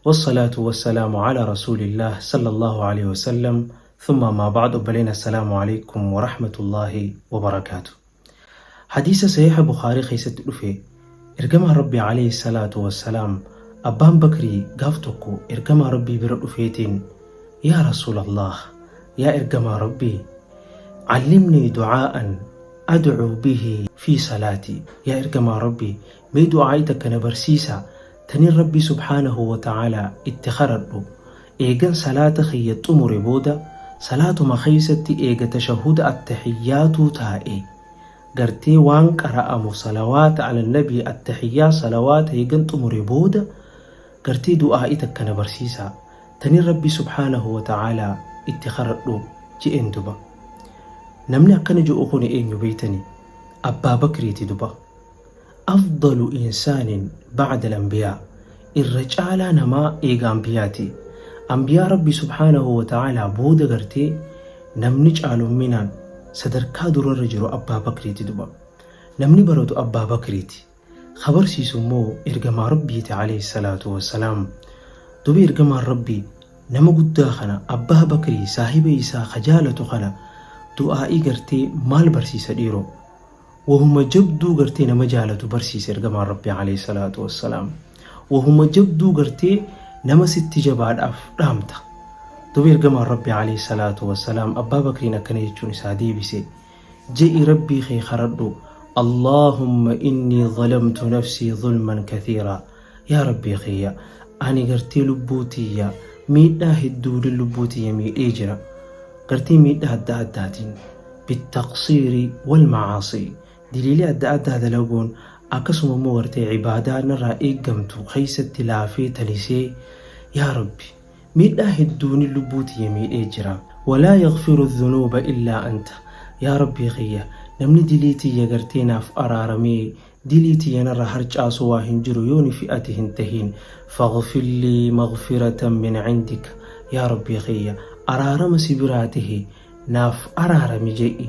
Wassalaatu wassalaamu ala rasuulillaah sallallaahu aleyhi wasallam thumma ammaa ba'd obboleen assalaamu aleykum warahmatullaahi wabarakaatu Hadiisa sahiiha bukhaarii keessatti dhufe ergamaan rabbii aleyhi salaatu wassalaam abbaan bakrii gaaf tokko ergamaa rabbii bira dhufeetiin yaa rasuulallaah yaa ergamaa rabbii callimnii ducaa'an adcuu bihi fi salaatii yaa ergamaa rabbii mee du'aa'ii takka na barsiisaa Kanin Rabbii subhaanahu wa ta'aalaa itti kadhadhu, eegan salaata kiyya xumure booda salaatuma keessatti eega tashahhuda attahiyyaatuu taa'ee, gartee waan qara'amu salawaata ala nabii attahiyyaa salawaata eegan xumure booda gartee du'aa'ii takka na barsiisaa, tanin Rabbii subhaanahu wa ta'aalaa itti kadhadhu je'een duba. Namni akkana je'u kuni eenyu beeytanii? Abbaa Bakriiti duba. Afdalu insaanin ba'dal anbiyaa Irra caalaa namaa eega anbiyaati. Anbiyaa Rabbii subhaanahu wa ta'aalaa booda gartee namni caalumminaan sadarkaa durarra jiru Abbaa Bakriiti duba. Namni baratu Abbaa Bakriiti. Ka barsiisu immoo ergamaa Rabbiiti alayhi salaatu wa salaam. Duba ergamaan Rabbii nama guddaa kana Abbaa Bakrii saahiba isaa ka jaalatu kana du'aa'ii gartee maal barsiisa dhiiroo? Wahuma jabduu gartee nama jaalatu barsiise ergamaan Rabbii alayhi salaatu wassalaam. Wahuma jabduu gartee nama sitti jabaadhaaf dhaamta. Duuba ergamaan Rabbii alayhi salaatu wassalaam Abbaa Bakriin akkana jechuun isaa deebise. Je'i Rabbii kee karadhu. Allaahumma innii zalamtu nafsii zulman kathiiraa. Yaa Rabbii kiyya ani gartee lubbuu tiyya miidhaa hedduudhaan lubbuu tiyya miidhee jira. Gartee miidhaa adda addaatiin bittaqsiiri wal macaasii diliilee adda addaa dalaguun akkasuma immoo gartee ibaadaa narraa eeggamtu keessatti laafee talisee yaa Rabbi miidhaa hedduun lubbuu tiyya miidhee jira. Walaa yaghfiru dhunuuba illaa anta yaa Rabbii kiyya namni dilii tiyya gartee naaf araaramee Dilii tiyya narra harcaasu waa hin jiru yooni fi ati hin tahin faghfir lii maghfiratan min cindika yaa rabbii kiyya araarama si biraa tahe naaf araarami jedhi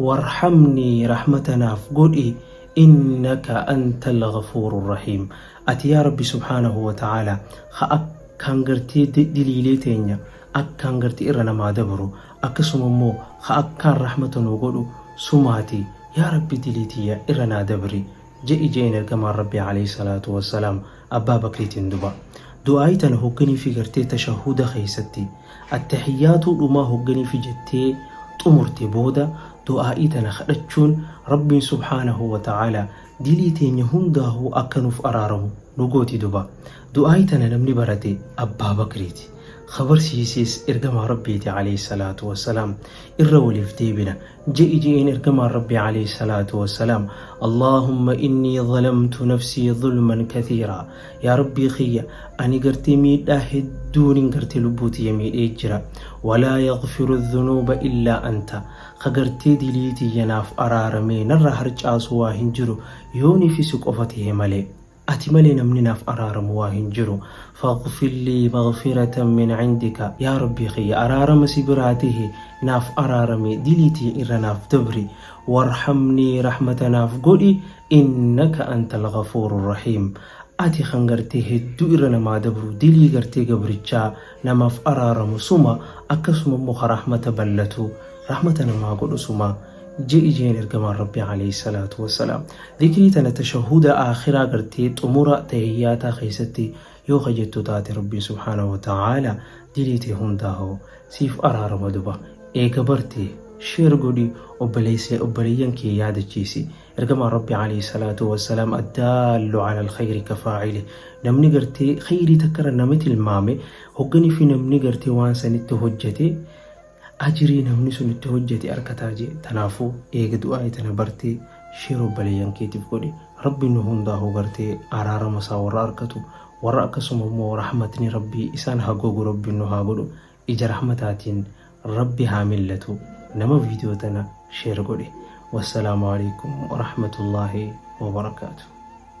warhamnii rahmata naaf godhi innaka antal ghafuuru rahiim ati yaa rabbi subhaanahu wa ta'aala ka akkaan gartee diliilee teenya akkaan gartee irra namaa dabru akkasuma immoo ka akkaan rahmata nuu godhu sumaati yaa rabbi dilii tiyya irra naa dabri je'i je'een ergamaan rabbi alayhi salaatu wassalaam abbaa bakriitiin duba du'aa'ii tana hogganii fi gartee tashahuda keessatti attahiyyaatuu dhumaa hogganii fi jettee xumurte booda du'aa'ii tana kadhachuun rabbiin subhaanahu wa ta'aala dilii teenya hundaahuu akka nuuf araaramu nu gooti duba Du'aayi tana namni barate Abbaa Bakriiti. Ka barsiises Ergamaa Rabbiiti Aleyhi Salaatu Wassalaam. Irra waliif deebina. Je'i je'een Ergamaan Rabbii Aleyhi Salaatu Wassalaam, Allaahumma innii zalamtu nafsii zulman kathiiraa. Yaa Rabbii kiyya! Ani gartee miidhaa hedduunin gartee lubbuu tiyya miidhee jira. Walaa yaghfiru dhunuuba illaa anta. Ka gartee dilii tiyya naaf araaramee narraa harcaasu waa hin jiru, yoonifi si qofa tahe malee. Ati malee namni naaf araaramu waa hin jiru. Faghfir lii maghfiratan min indika Yaa Rabbii kiyya araarama si biraa tahe naaf araarami dilii tiyya irra naaf dabri. Warhamnii rahmata naaf godhi innaka antal ghafuuru rahiim Ati kan gartee hedduu irra namaa dabru dilii gartee gabrichaa namaaf araaramu suma akkasuma immoo ka rahmata ballatu rahmata namaa godhu suma. je'i jeen ergamaan rabbi alayhi salaatu wassalaam dikrii tana tashahuda aakhiraa gartee xumura tahiyyaataa keessatti yoo ka jettu taate rabbi subhaanahu wa ta'aala dilii tee hundaa hoo siif araarama duba eega barte sheer godhi obboleessa obboleeyyan kee yaadachiisi ergamaan rabbi alayhi salaatu wassalaam addaallu ala alkhayri kafaa'ili namni gartee khayrii takkarra nama tilmaame hogganii fi namni gartee waan sanitti hojjete Ajirii namni sun itti hojjate arkataa jee tanaafu eega du'aayi tana bartee share obbaleyyan keetif godhi rabbi nu hundaahu gartee araarama isaa warra arkatu warra akkasuma immoo rahmatni rabbi isaan ha gogu rabbi nu haa godhu ija rahmataatiin rabbi haa millatu nama video tana share godhi wassalaamu aleykum warahmatullaahi wabarakaatu.